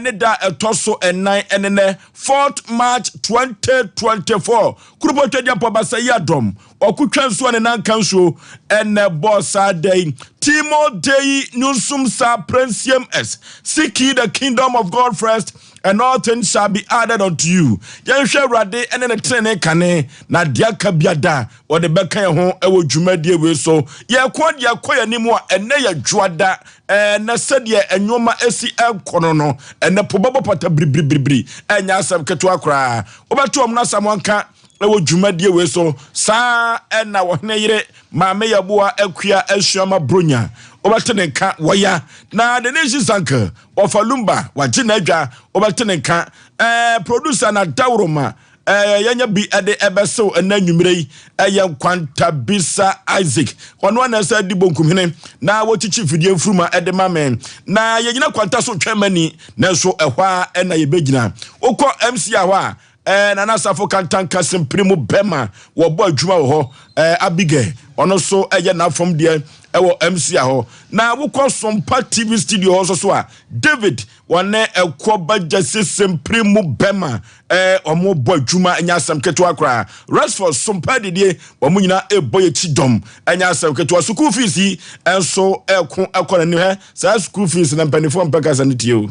ne da a ɛtɔ so nnan ne nnɛ, 4th March 2024. Kurupotwa Gyapɔ Basa Yi Adom Ɔkotwa Nsuo a ne nan ka nsuo na ɛbɔɔ saa da yi. Timo Dei Nyunsum Sa Prensiem S. Seek ye the kingdom of God first and all things shall be added unto you. Yɛnhwɛ Awurade ne ne tenenee kane na deɛ aka biada wɔde bɛka yɛn ho wɔ dwumadie wei so. Yɛko deɛ ɛkɔ yɛn anim a ɛnɛ yɛ dwoada Ɛnnɛ, sɛdeɛ nnoɔma asi rekɔ no no, ɛnnɛ po bɛbɔ pata biribiribiribiri. Ɛnyɛ asɛm ketewa koraa. Wobɛto wɔn no asɛm wɔnka wɔ dwumadie wei so. Saa na ɔhene yere Maame Yaboa Akua Asuama Bronya, wobɛte ne nka wɔ ya. Na Denise Zanker, ɔfa Lumba, wagye n'adwa, wobɛte ne nka. Ɛɛ, producer na Dawuroma Ɛɛ, yɛanya bi de ɛbɛsew ɛnnɛ anwummere yi. Ɛyɛ Nkwantabisa Isaac. Ɔno ara na ɛsɛ di bonkumhene na wɔkyikyi fidie mfuruma de ma me. Na yɛgyina kwanta so twɛn mani, nanso ɛhɔ ara na yɛbɛgyina. Wokɔ MCA hɔ a, ɛɛ, Nana Asafo Kantanka Simpiri mu bɛma wɔbɔ adwuma wɔ hɔ. Ɛɛ, Abigail, ɔno nso yɛ n'afam deɛ wɔ MCA hɔ. Na wokɔ Sompa TV studio hɔ nso so a, David, Wɔne ɛkoɔ ba gyasi simpiri mu bɛma ɛɛ wɔn bɔ adwuma ɛnyɛ asɛm ketewa koraa Rexford sompa adidie wɔn nyinaa ɛɛbɔ yɛkyi dɔm ɛnyɛ asɛm ketewa sukuu fees yi ɛnso ɛɛko ɛkɔ na nim hɛ saa sukuu fees na mpanifoɔ mpɛ kasa no tie o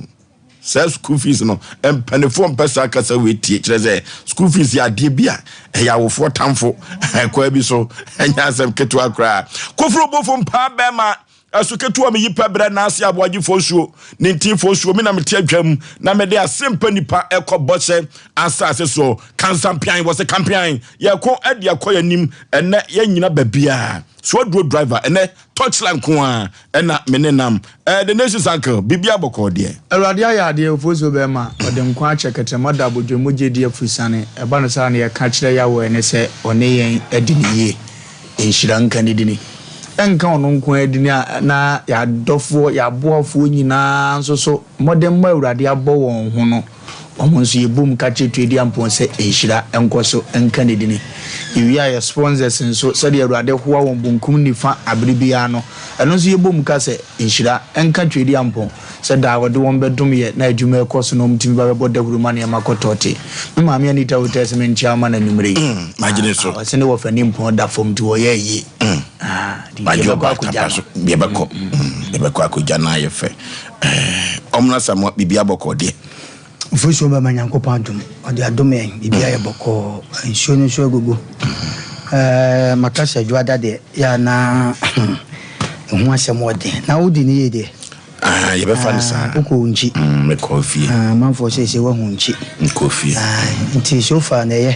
saa sukuu fees no mpanifoɔ mpɛ saa kasa wei tie kyerɛ sɛ sukuu fees yɛ adeɛ bi a ɛyɛ awofoɔ tamfo ɛkɔ ɛbi so ɛnyɛ asɛm ketewa koraa koforo bofo mpaa bɛma Ɛso ketewa me yi pɛ brɛ naase aboagyefoɔ nsuo ne nteefoɔ nsuo me na mete adwam na mede asempa nnipa ɛkɔ bɔhyɛ asaase soɔ kansa mpean wɔse kampean yɛko ɛde akɔ yanim ɛnɛ yɛnyina babiaa so aduro driver ɛnɛ torchlight nkoaa ɛna mene nam ɛɛ the nations uncle biribiaa bɔkɔɔ deɛ Awurade ayɛ adeɛ ofoɔ nsuo bɛɛma ɔde nkwa akyɛ kɛtrɛma da abodwemmu gyedie afuru sane ɛba no saa na yɛka kyerɛ Yahweh ne sɛ ɔne yɛn adi no yie Nhyira nka ne dini. Ɛnka ɔno nko ara dini a na yɛn adɔfoɔ, yɛn aboafoɔ nyinaa nso so mmɔdemmɔ a Awurade abɔ wɔn ho no, wɔn nso yɛbom ka kyerɛ Tweediampɔn sɛ nhyira nkɔ so nka ne dini. Yɛwie a yɛn sponsors nso, sɛdeɛ Awurade hoa wɔn bonkum nifa abere biara no, ɛno nso yɛbom ka sɛ nhyira nka Tweediampɔn. sɛ daa wɔde wɔn bɛdom yɛ na adwuma rekɔ so na wɔtumi ba bɛbɔ dawuru ma nneɛma kɔ tɔte. Me maame Anita Hotei se menkyea wo ma no anwummere yi. Ah, ɔse ne wɔfa nni mpɔn da fam nti wɔyɛɛ yie. Ah, nti yɛbɛkɔ akɔgya no. Yɛbɛkɔ, yɛbɛkɔ akɔgya no ayɛ fɛ. Ɔmmra Samoa, biribiara bɔkɔɔ deɛ. Ofasu ɔbɛma Nyankopɔn adom, ɔde adom yɛn, biribi ayɛ bɔkɔɔ, nsuo no nso agugu. Ɛɛ maka sɛ dwoada deɛ yɛ a na ɛho asɛm wɔ den. Na wodi ne yie deɛ? Ah, yɛbɛfa no saa. Wokɔ wo nkyi? Mm, mekɔ fie. Ah, manfoɔ sɛ sɛ woahu nkyi. Mekɔ fie. Ah, nti so far na ɛyɛ.